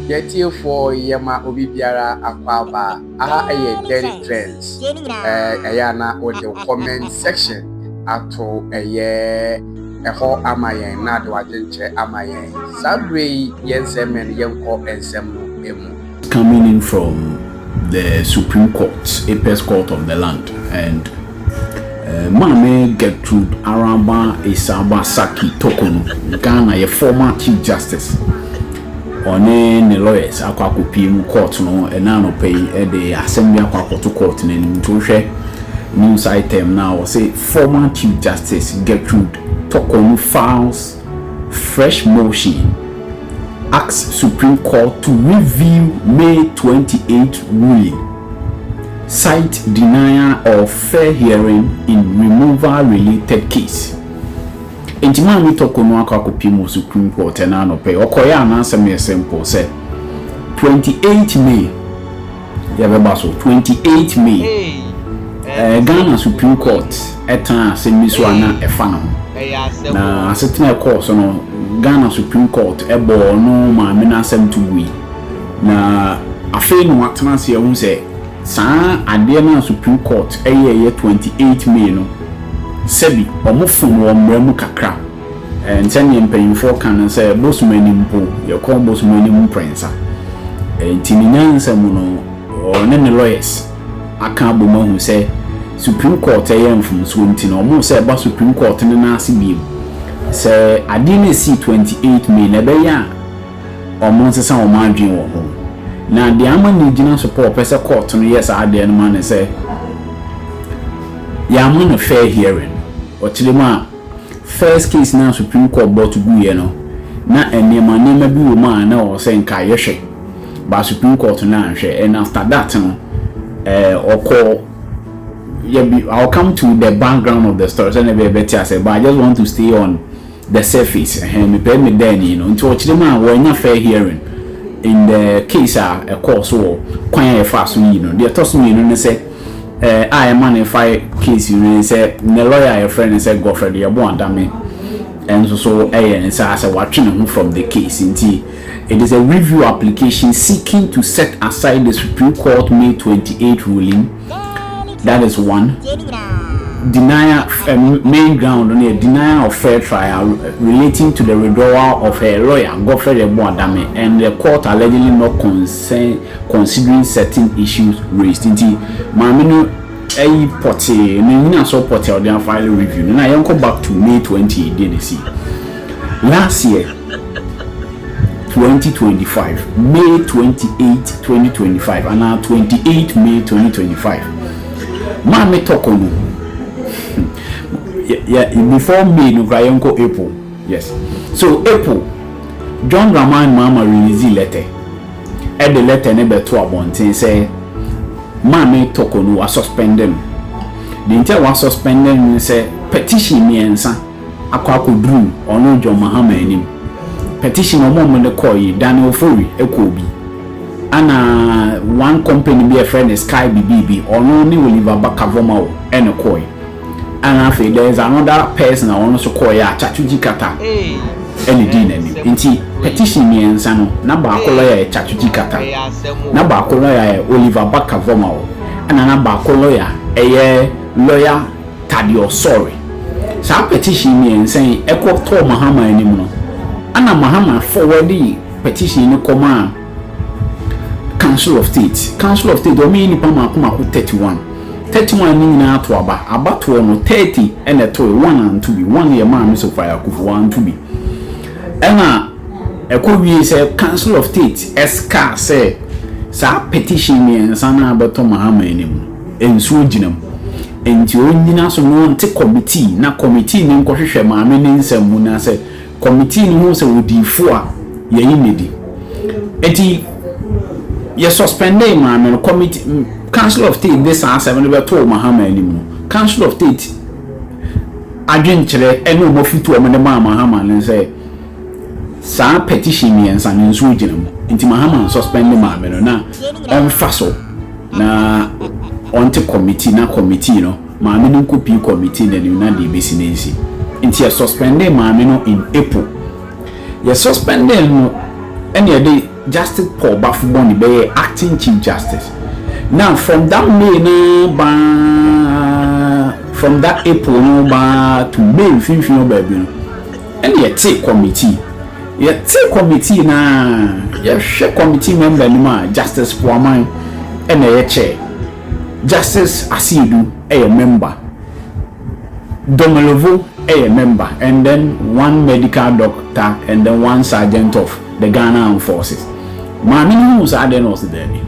Yɛ tiefoɔ yɛ ma obi biara akɔ aba aha yɛ Dirty Trends ɛyɛ a na wode wo comment section ato ɛyɛ ɛhɔ ama yɛn na de wadwenkyerɛ ama yɛn saa berɛ yi yɛn nsɛm mɛ no yɛnkɔ nsɛm no mu. Coming in from the supreme court, apest court of the land and eh, Maame Gertrude Araba Esaba Saki Toko no, Ghana yɛ former chief justice. Ɔne ne lawyers akɔ akɔpie mu court no ɛna anɔpa yi de asɛm bi akɔ akɔto court no anim. Nti wohwɛ news item no a wɔse former chief justice Gertrude Toko no files Fresh motion asks Supreme Court to review May twenty eight ruling, cite denial of fair hearing in removal related case. Enti Maame Toko no akɔ akɔpiem wɔ Supreme Court ɛna anɔpa yi. Ɔkɔeɛ a n'asɛm yɛ simple sɛ twenty eight May Yɛbɛba so twenty eight May, ɛɛ Ghana Supreme Court ɛtenaa asɛm bi so a na ɛfa ne ho. Na asetena ɛkɔɔ so no, Ghana Supreme Court ɛbɔɔ ɔno maame no asɛm to gui. Na afei na watena ase ahu sɛ saa adeɛ no a Supreme Court ɛyɛɛyɛ twenty eight May no, sɛbi wɔfom wɔ mmara mu kakra. Sɛdeɛ mpaninfoɔ ka no sɛ bosom anim mpo yɛkɔ bosom anim mprɛnsa nti ne nyansa mu no ɔne ne lawyers aka abom ahu sɛ supreme court ɛyɛ mfomsoɔ nti no ɔmo sɛ ɛba supreme court no nan ase biom sɛ adeɛ no ɛsii twenty eight may no ɛbɛyɛ a ɔmo nsesa ɔmo adwen wɔ ho na deɛ ama ne gyina so paa ɔpɛ sɛ court no yɛ saa adeɛ no ma no sɛ yɛama no fair hearing ɔkyerɛ mu a. First case no a Supreme Court bɔto guiɛ no, na nneɛma nneɛma bi wɔ mu a na ɛwɔ sɛ nka yɛhwɛ, but Supreme Court no anhwɛ and after that no, eh, ɔkɔɔ, yɛ bi, I'll come to the background of the story sɛdeɛ ɛbɛyɛ bɛte asɛ, but I just want to stay on the surface, ɛhɛn, mepɛ me da ani no, nti ɔkyerɛ mu a wɔannya fair hearing in the case a ɛkɔɔ so wɔ kwan a yɛfaa so yii no. Deɛ ɛtɔ so mmienu ne sɛ, a ɛma no fae case yi no ne sɛ ne lawyer a yɛfrɛ no sɛ Godfred Yeboah Adame nso so yɛ ne saa sɛ watwe ne ho from the case nti it is a review application seeking to set aside the Supreme Court May 28 ruling that is one denial um, main ground on a denial of fair trial relating to the withdrawal of her lawyer Godfred Yeboah Adame and the court allegedly not cons sɛn considering certain issues raised nti maame no ayi pɔtee no nyina so pɔtee a ɔde afile review no na yɛnkɔ back to May 20 ɛdeɛ na ɛsi last year 2025 May 28 2025 anaa 28 May 2025 maame tɔkɔ no before May no koraa yɛnkɔ April Yes so April John Dramani Mahama releasee lɛtɛ ɛde lɛtɛ no bɛto abɔnten sɛ Maame Toko no w'asuspɛnde no deɛ nti a w'asuspɛnde no ne sɛ petition mmiɛnsa akɔ akɔduru ɔno John Mahama anim petition a wɔn a wɔde kɔɔ yi Daniel Ofori ɛkɔɔ bi ɛna one company bi a yɛfrɛ no Sky Bibibi ɔno ne Oliver Barker-Vormawor ɛna ɛkɔɔ yi Ana afei there is another person a ɔno nso kɔɔeɛ a Chatujji Kata ɛna dii n'anim. Nti petition mmiɛnsa no na baako lawyer yɛ Chatujji Kata, na baako lawyer yɛ Oliver Barker Vormawor, ɛna na baako lawyer ɛyɛ lawyer Taddy Osore. Saa petition mmiɛnsa yi ɛkɔ tɔɔ Mahama anim no, ɛna Mahama forward petition no kɔmaa Council of State Council of State wɔyɛ nnipa mmaako mmaako thirty one thirty one no nyinaa to aba abatoɔ no thirty ɛna ɛtoe one anto bi one yɛ Maame Sofia Akuffo anto bi ɛna ɛkɔ wie sɛ Council of State ɛskaa sɛ saa petition mmiɛnsa no abɛtɔ Mahama anim no nsuo gyina mu nti ɔnyina so na ɔnte committee na committee no nkɔhwehwɛ maame ne nsɛm mu na sɛ Kɔmitii no hu sɛ ɔdii fo a, yɛyi no adi. Enti yɛ suspendee Maame no. Kɔmiti, Council of State de saa asɛm no bɛtoo Mahama anim no, Council of State adwenkyerɛ ne wɔn afotuo a wɔde maa Mahama ne sɛ, saa petition mmiɛnsa no nso gyina mu. Enti Mahama nsuspende Maame no na ɔmfa so na ɔnte kɔmiti na kɔmitii no Maame no nko pii kɔ meeting na nim na deɛ ɛbɛsi no nsi nti yɛ suspendee maame no in April yɛ suspendee no ɛna yɛde Justice Paul Bafo Bɔne bɛyɛɛ acting chief justice na from that May no baa from that April no baa to May mfimfini hɔ baabi no ɛna yɛte committee yɛte committee na yɛhwɛ committee member anim a Justice Poaman ɛna ɛyɛ chair Justice Asiedu yɛ member, Domelovo yɛ member and then one medical doctor and then one sergeant of the Ghana Armed Forces. Maame no huu saa adeɛ no ɔse daabi.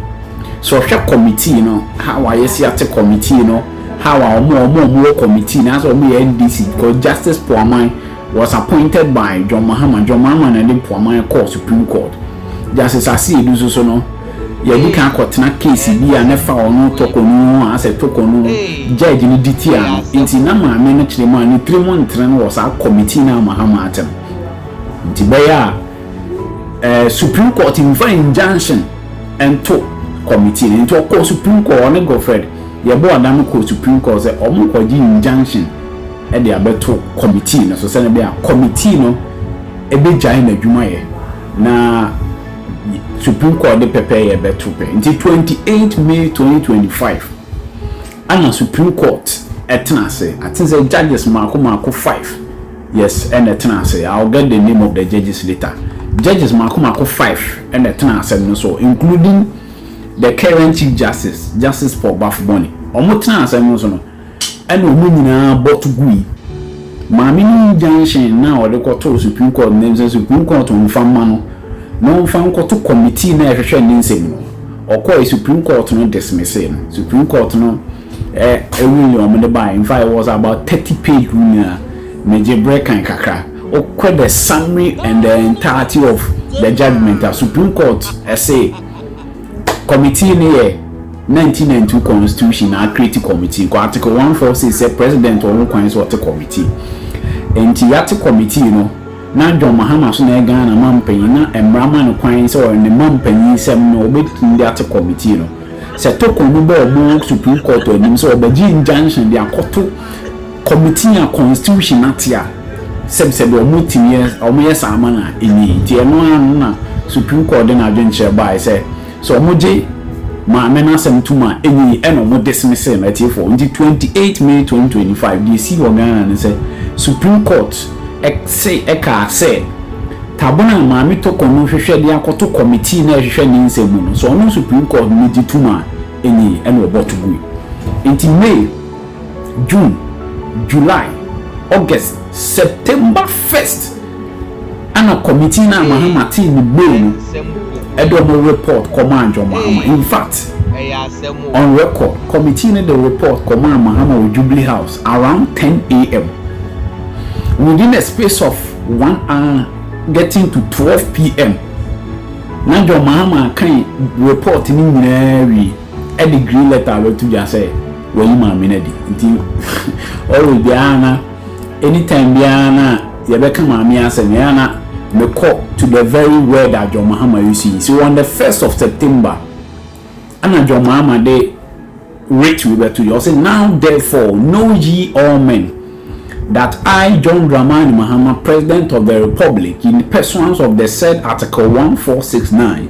So ɔhwɛ committee no how a yɛsi ate committee no how a ɔmo ɔmo ɔmo wɔ committee na sɛ ɔmo yɛ NDC because Justice Poaman Was appointed by John Mahama John Mahama na de Poaman kɔɔ Supreme Court. Justice Asiedu nso so no, yɛadi kan kɔtena case bi a na ɛfa ɔno Tokonu yi ho a asɛ Tokonu judge no di tia no nti na maame no kyerɛ mu a ne tirim ntere no wɔ saa committee no a Mahama ate no nti bɛyɛ a eh, Supreme Court mfa injunction nto committee no nti ɔkɔɔ Supreme Court ɔne Godfred yɛbɔɔ adano kɔɔ Supreme Court sɛ ɔmo kɔgye injunction de abɛto kɔmitii no so sɛnea ɛbɛyɛ a kɔmitii no begyae n'adwumayɛ na Supreme Court de pɛpɛɛyɛ bɛto pɛ. Nti 28 May 2025 ɛna Supreme Court ɛtena ase. I think sɛ judges mmaako mmaako five yes ɛna ɛtena ase. I will get the name of the judges later. Judges mmaako mmaako five ɛna ɛtena asɛm no so including the current Chief Justice, Justice Paul Bafo Bɔne. Wɔn tena asɛm no so no, Ɛnna wɔn nyinaa bɔ to gui. Maame no injunction no a ɔde kɔtoo Supreme Court no ne sɛ Supreme Court mfa mma no na ɔmfa nkɔto committee no a ɛhwehwɛ ne nsɛm no. Ɔkɔe, Supreme Court no dismissee no. Supreme Court no ruling a wɔde bae, in fact it was about thirty page ruling a megye bere kan kakra. Wokɔ the summary and the entirety of the judgement a, Supreme Court se, Committee no yɛ nineteen ninety two constitution na a create committee kɔ article one four six sɛ president wɔ ho kwan sɛ ɔte committee nti yɛate committee no na John Mahama so na yɛ Ghana mampanyin na mmara ma no kwan sɛ ɔyɛ ne mampanyin nsɛm no ɔbɛtumi de ate committee no sɛ tokɔ no bɔ ɔmo supreme court anim sɛ ɔbɛgye injunction de akɔto Committee a constitution ate a sɛb sɛ deɛ ɔmo tumi yɛ ɔmo yɛ saa ma no a enye yi nti ɛno ara no na supreme court de n'adwenkyerɛ baeɛ sɛ sɛ ɔmo gye maame no asɛm tom a enye yi ɛna ɔmo dismissee no atiefoɔ nti twenty eight may twenty twenty five deɛ esii wɔ Ghana ne sɛ supreme court se ɛkaa sɛ tabena a maame Toko no hwehwɛ de akɔto committee no a ɛhwehwɛ ne nsɛm mu no sɛ ɔno supreme court no gye tom a enye yi ɛna ɔbɔto gui nti may June, July, August, September first ana committee no a Mahama tee ne bail no de wɔn report kɔmaa John Mahama. In fact, on record, committee no de report kɔmaa Mahama wɔ Jubilee House around 10 a.m. Within a space of one hour getting to 12 p.m. na John Mahama kan report no nyinaa wie. de green letter abɛto dwa sɛ wayi maame no adi nti always biara na anytime biara na yɛbɛka maame asɛm yɛn ana mekɔ to the very word a John Mahama use yi so on the first of September ana John Mahama de writ wi bɛto dwa ɔsɛ now therefore know ye all men that I John Dramani Mahama president of the republic in pursuance of the said article 1469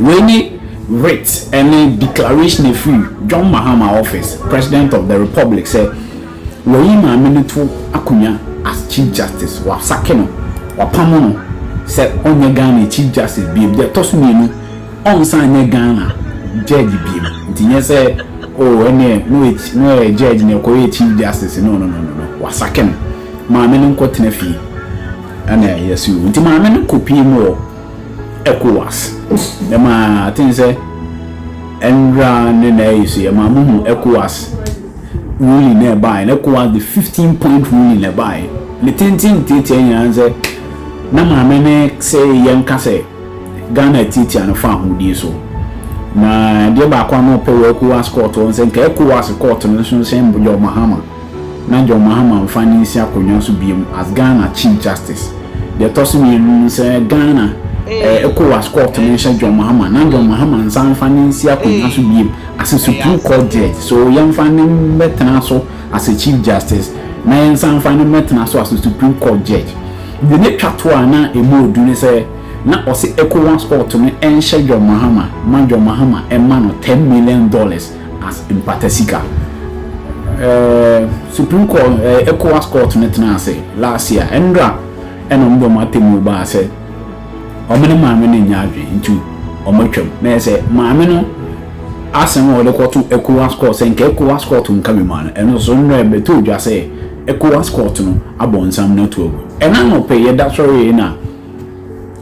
Wei ne writ ne declaration a firi John Mahama office, President of the Republic sɛ wayi maame no to akonwa as Chief Justice, wasake no, wapamo no sɛ ɔnyɛ Ghana Chief Justice biom, deɛ ɛtɔ so mmienu, ɔnsan nyɛ Ghana Judge biom, nti nyɛ sɛ oh ɛneɛ na ɔyɛ na ɔyɛ Judge na ɔkɔyɛɛ Chief Justice, no no no no no, wasake no, maame no nkɔtena fie ɛna yɛse oo, nti maame no kɔpie mu wɔ. Ecowas. Dɛm a, I think sɛ ndra ne na ɛyɛ so yɛ ma mo hu Ecowas ruling na ɛbaeɛ no, Ecowas the 15 point ruling na ɛbaeɛ. Ne tenten ne tiatia nyinaa ne sɛ na maame ne sɛ yɛnka sɛ Ghana atiatia no fa ahodie so. Na adeɛ baako a na ɔpɛ wɔ Ecowas court hɔ no sɛ nka Ecowas court no nso nhyɛ John Mahama. na John Mahama mfa no nsi akonnwa so biom as Ghana Chief Justice. Deɛ ɛtɔ so mmienu no sɛ Ghana Ecowas Court no nhyɛ John Mahama na John Mahama nsan mfa no nsi akonnwa so biom as Supreme Court Judge. So yɛmfa no mmɛtena so as a Chief Justice na yɛnsan mfa no mmɛtena so as Supreme Court Judge. Deɛ na ɛtwa toɔ a na ɛmu ɔdu ne sɛ na ɔse Ecowas Court no nhyɛ John Mahama ma John Mahama mma no ten million dollars. as mpata sika. Ɛɛm supreme court ɛɛ ECOWAS court no tenaa ase last year ɛnra ɛna ɔmo de ɔmo atemmuo baa sɛ ɔmo ne maame no nnya adwene nti ɔmo atwam na yɛ sɛ maame no asɛm a ɔde kɔto ECOWAS court sɛ nka ECOWAS court nka me ma no ɛno so nnra ɛbɛtoo dwa sɛ ECOWAS court no abɔ nsam no ato agu. Ɛna anɔpɛ yɛda sɔree na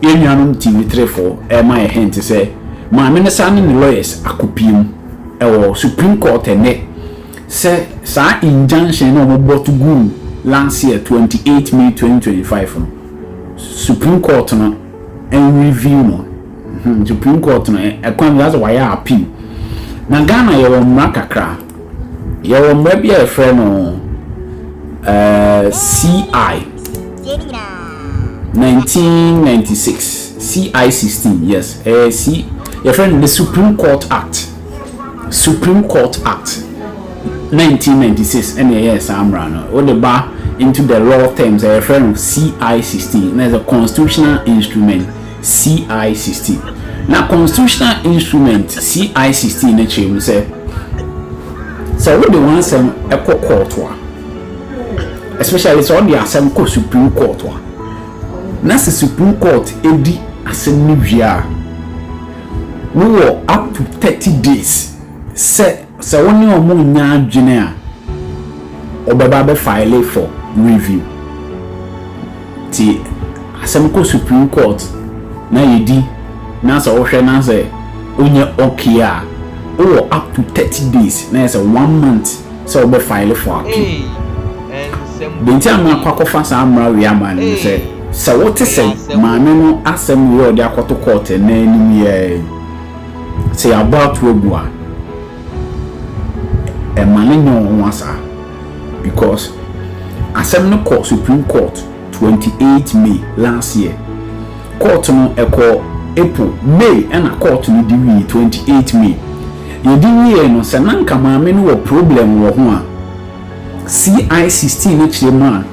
Yɛn nuanom TV trefo rema yɛn hint sɛ maame no san ne ne lawyers akɔpue mu wɔ Supreme Court ɛnnɛ sɛ saa injunction no a wɔbɔto guu last year twenty eight May twenty twenty five no Supreme Court no nreview no. Supreme Court no ɛkwan bi asɛ wɔayɛ appeal. Na Ghana yɛwɔ mmara kakra. Yɛwɔ mmara bi a yɛfrɛ no CI 1996 CI 16 yes ɛyɛ eh, C yɛfrɛ no the Supreme Court Act Supreme Court Act 1996 ɛna ɛyɛ saa mmara no wode ba into the law terms ɛyɛfrɛ no CI 16 na ɛyɛ constitutional instrument. CI sixteen. Na constitutional instrument CI sixteen no kyerɛ mu sɛ, sɛ wode w'asɛm kɔ kɔɔto a, especially sɛ wode asɛm kɔ Supreme Court a, na sɛ Supreme Court di asɛm no wie a, wowɔ up to thirty days sɛ. Sɛ wo ne wɔn nnya adwene a, wɔbɛba abɛ file for review. Nti asɛm kɔ Supreme Court na yɛdi na sɛ wohwɛ na sɛ ɔnyɛ okay a, wowɔ up to thirty days na yɛ sɛ one month sɛ wobɛ file for appeal. Deɛ nti a makɔ akɔfa saa mmara wei ama no ne sɛ, sɛ wote sɛ maame no asɛm wei a ɔde akɔto court nnɛ anim yi ara yi, Sɛ yɛabɔ ato agu a, ɛmma no nyɛ wo nwa saa because asɛm no kɔ Supreme Court twenty eight May last year. Court no ɛkɔɔ April, May ɛna court no di wieɛ twenty eight May. Deɛ ɛdi wieɛ no sɛ na nka maame no wɔ problem wɔ ho a, CI sixteen no kyerɛ mu a,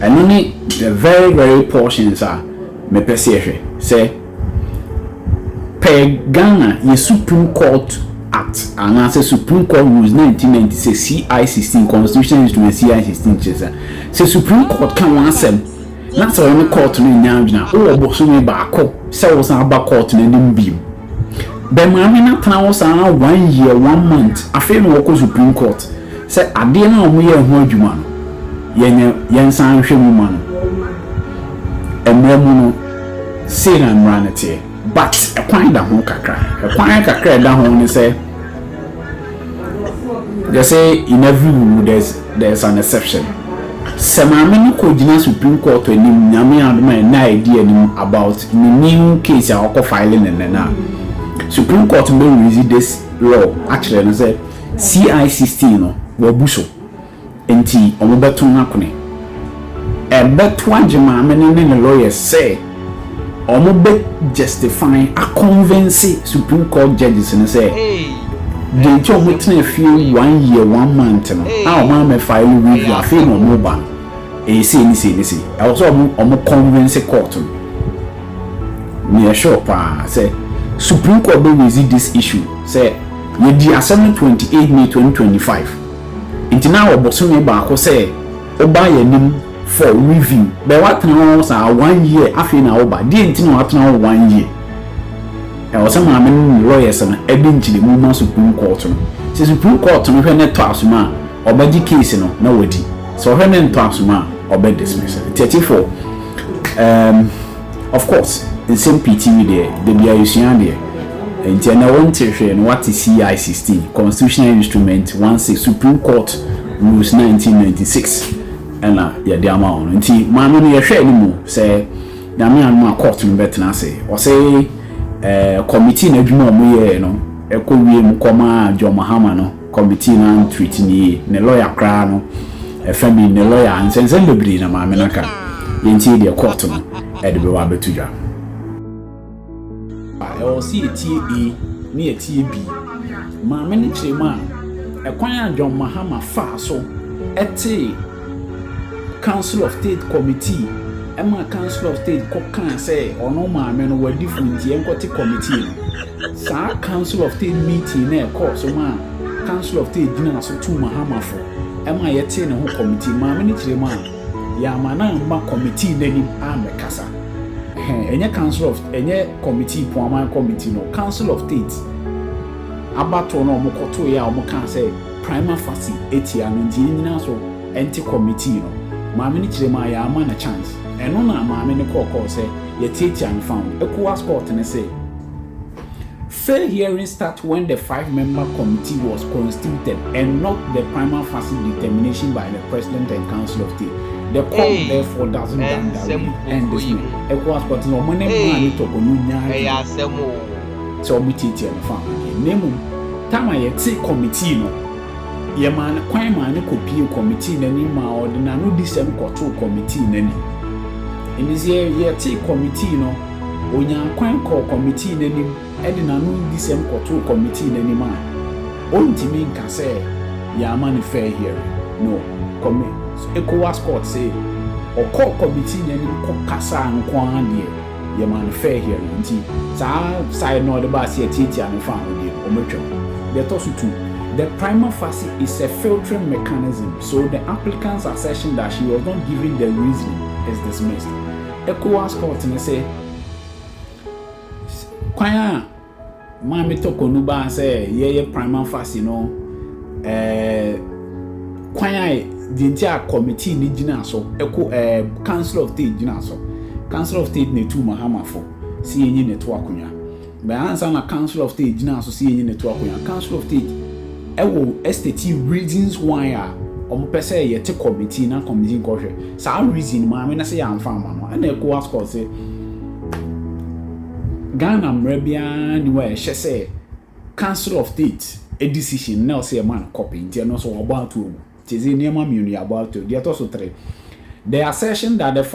Ɛno ne the very very portions a mepɛ sɛ yɛhwɛ sɛ per Ghana yɛ Supreme Court Act anaasɛ Supreme Court Rules 1990 sɛ CI 16 Constitutional Instrument CI 16 kyerɛ sɛ sɛ Supreme Court ka wɔn asɛm na sɛ wɔn ne court no nya adwene a wowɔ bosome baako sɛ wosan aba court no anim bio. Bɛ maame no tena hɔ saa ara one year, one month, afei na ɔkɔ Supreme Court sɛ adeɛ no a wɔyɛɛ ho adwuma no, yɛnyɛ, yɛnsan nhwɛ mu mma no. Mmara mu no, sei na mmara no teɛ. But, ɛkwan da ho kakra. Ɛkwan kakra a ɛda ho ne sɛ. They say in every wuwu there's there's an exception. Sɛ maame no kɔ gyina supreme court anim nyame adom a ɛnɛ a ɛdi anim about ne new case a ɔkɔ file ne nnɛ no a supreme court bɛ release this law akyerɛ no sɛ CI sixteen no wabu so. Enti wɔbɛto no akone. Ɛbɛto agye maame no ne ne lawyers sɛ wɔbɛ justify, a convince Supreme Court judges no sɛ deɛ nti a wɔtenaa fie one year, one month no a wɔammɛ file review, afei na wɔreba no, ɛyɛ sei ne sei ne sei. Ɛwɔ sɛ wɔn convince court no. Meyɛ sure pa ara sɛ Supreme Court bɛ raise this issue sɛ yɛdii asɛm no twenty eight May twenty twenty five. Enti na wɔ bosome baako sɛ woba yɛn anim for review. Bɛɛ woatena hɔ saa one year afei na woba. Deɛ nti na woatena hɔ one year? Ɛwɔ sɛ maame no ne lawyers no de nkyerɛmu ma Supreme Court no. Sɛ Supreme Court no hwɛ na ɛtɔ asom a, wɔbɛgye case no na wɔadi. Sɛ wɔhwɛ na ɛntɔ asom a, wɔbɛ dismiss no. Thirty four, um. Of course nsɛm pii TV deɛ da biaa yɛsua adeɛ nti ɛnɛ wo nte hwee no wate CI sixteen, Constitutional Instrument one six, Supreme Court Rules nineteen ninety six ɛna yɛde ama wo no nti maame no yɛhwɛ animu sɛ Nyame anom a court no bɛtena ase ɔse ɛɛ committee no adwuma a ɔmo yɛɛ no ɛkɔ wiem kɔmaa John Mahama no Committee no antreat no yie. Ne lawyer koraa no, ɛfa bi, ne lawyer, nsɛnsɛm bebree na maame no aka. Yɛntie deɛ court no de bɛba abɛto dwa. Ɛwɔ sɛ yɛtie A na yɛtie B. Maame no kyerɛ mu a, ɛkwan a John Mahama faa so tee Council of State Committee ma Council of State kɔkaa sɛ ɔno maame no wadi fo nti ɛnkɔte committee no. Saa Council of State meeting no a ɛkɔɔ so maa Council of State gyinaa so tuu Mahama fo ma yɛtee ne ho kɔmitii. Maame no kyerɛ mu a, yɛamma no amma kɔmitii no anim ammɛkasa. Hɛ, ɛnyɛ Council of, ɛnyɛ kɔmitii, Poaman Kɔmitii no, Council of State abatoɔ no a wɔkɔtoeɛ a wɔkaa sɛ prima facie atia no nti yɛnnyina so nte kɔmitii no. Maame no kyerɛ mu a, yɛamma no chance. Ɛno na maame no kɔɔ kɔɔ sɛ yɛtiatia no fam. Ecowas Court no se. Fair hearing start when the five member committee was constituted and not the prima facie determination by the President and Council of State. The court hey, therefore doesn't damn that way and this no. Echoes but no money man it up on you nyanya. So we teach you the family. Name Tama yɛte committee no yɛma no kwan ma no kɔpie committee no anim ma ɔde n'ano di sɛm kɔtoo committee no anim ɛne sɛ yɛte committee no Onyaa kwan kɔɔ kɔmitii no anim de n'ano adisɛm kɔtoo kɔmitii no anim a ontumi nka sɛ yɛamma no fair hearing no, kɔmi ECOWAS court se ɔkɔɔ kɔmitii no anim kɔkasaa nko ara deɛ yɛmaa no fair hearing nti saa side no a ɔde baa se yɛtiatia no faa ho deɛ no wɔatwam. Deɛ ɛtɔ so tu, the prima facie is a filtering mechanism so the applicant's assertion that she was not given the reasoning is dismissed. Ecowas court no sɛ kwan a Maame Toko no baa sɛ yɛyɛ prima facie no ɛɛ kwan a deɛ nti a committee no gyina so ɛko ɛɛ council of state gyina so council of state na etu Mahama fo si yɛnyi ne to akonnwa Bɛn ansa na Council of State gyinaa so sɛ yenyi no to akonnwa? Council of State wɔ estate yi reasons why a wɔpɛ sɛ yɛte committee na committee nkɔhwɛ. Saa reason no maame no se yɛamfa amma no. Ɛna Ecowas Court se Ghana mmara biara nni hɔ a ɛhyɛ sɛ Council of State decision no na ɛwɔ sɛ yɛma no copy, nti ɛno nso wɔabɔ ato agu. Nti ɛsɛ nneɛma mmienu, yɛabɔ ato agu. Deɛ ɛtɔ so three, the assertion that the